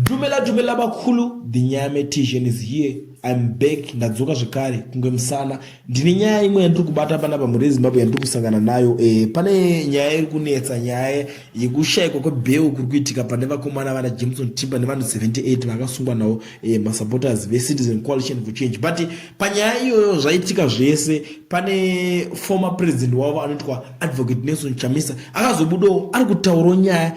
Dumela dumela vakulu the nyame tijen is here im back ndadzoka zvekare kunge musana ndine nyaya imwe yandiri kubata panapa mhuri yezimbabwe yandiri kusangana nayo e, pane nyaya iri kunetsa nyaya yekushayikwa kwebheu kuri kuitika pane vakomana vana jameson timba nevanhu 78 vakasungwa nawo e, eh, masupporters vecitizen coalition for change but panyaya iyoyo zvaitika zvese pane former president wavo anoitwa advocate nelson chamisa akazobudawo ari kutaurawo nyaya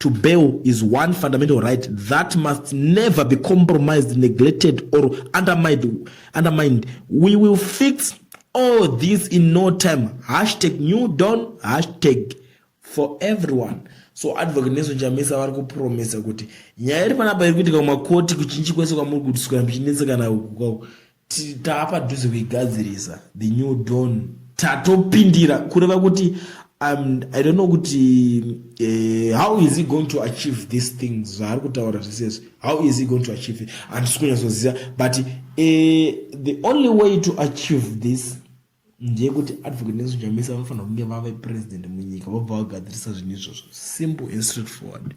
to bail is one fundamental right that must never be compromised, neglected, or undermined. undermined. We will fix all this in no time. Hashtag new dawn, hashtag for everyone. So advocate Nelson Chamisa vari kupromisa kuti nyaya iri panapa iri kuitika kumakoti kuchinji kwese kwamuri kutiswa muchinetsekana uku kwako taapadhuze kuigadzirisa the new don tatopindira kureva kuti um, i don't know kuti uh, how is he going to achieve these things zvaari kutaura zvisezvi how is he going to achieve it handisi kunyatsoziva but uh, the only way to achieve this ndeyekuti advocate nelson chamisa vanofanira kunge vave president munyika vobva vagadzirisa zvinhu izvozvo simple and straight forward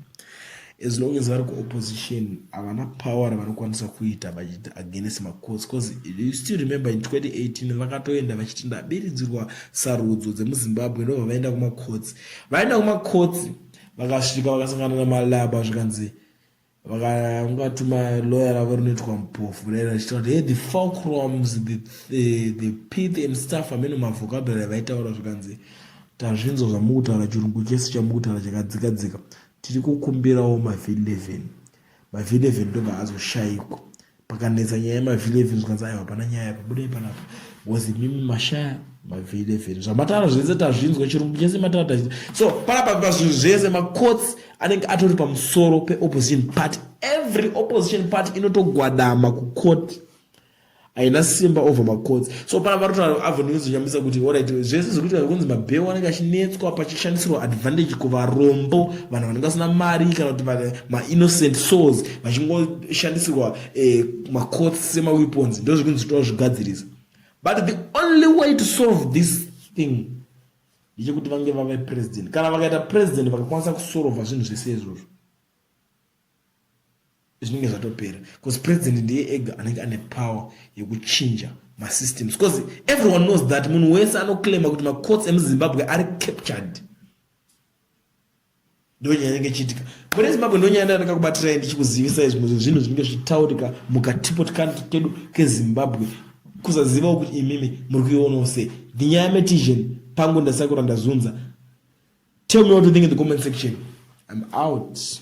as long as vari kuopposition havana power ravanokwanisa kuita vachiti against macourts bcause you still remember in 2018 vakatoenda vachiti ndabiridzirwa sarudzo dzemuzimbabwe ndobva vaenda kumacourts vaenda kumacourts vakasvika vakasangana namalaba zvikanzi vakangatuma lawyer ravo rinoitwa mupofu kudai vachitaura kuti hey the fulcrums the, the, the pith and stuff amene mavhokabhera vaitaura zvikanzi tazvinzwa zvamukutaura chirungu chese chamukutaura chakadzika dzika tiri kukumbirawo mavi 11 mavi 11 ndobva azoshayikwa pakanetsa nyaya yemavhili evheni zvikanzi aiwa hapana nyaya yapa budai panapa was imimi mashaya mavhili evheni zvamatara zvese tazvinzwa chirungu chese matara tazvinzwa so panapa pazvinhu zvese macourts anenge atori pamusoro peopposition party every opposition party inotogwadama kucourt haina simba over macourts so pana vatotaura avonozonyamisa kuti orit zvese zvekuti vakunzi mabheu anenge achinetswa pachishandisirwa advantage kuvarombo vanhu vanenge vasina mari kana kuti mainnocent souls vachingoshandisirwa eh, macots semaweapons ndo zvikunzi tova zvigadzirisa but the only way to solve this thing ndechekuti vange vave president kana vakaita president vakakwanisa kusorova zvinhu zvese izvozvo zvinenge zvatopera bcause president ndiye ega anenge ane power yekuchinja masystems because everyone knows that munhu wese anoclaima kuti macourts emuzimbabwe ari captured ndonyaya inenge ichiitika mune zimbabwe ndonyaya ndanaka kubatirai ndichikuzivisai zvimwe zvezvinhu zvinenge zvichitaurika mukatipo tikanti kedu kezimbabwe kusazivawo kuti imimi muri kuionawo sei ndinyaya yametision pangu ndasakura ndazunza tell me what you think in the comment section i'm out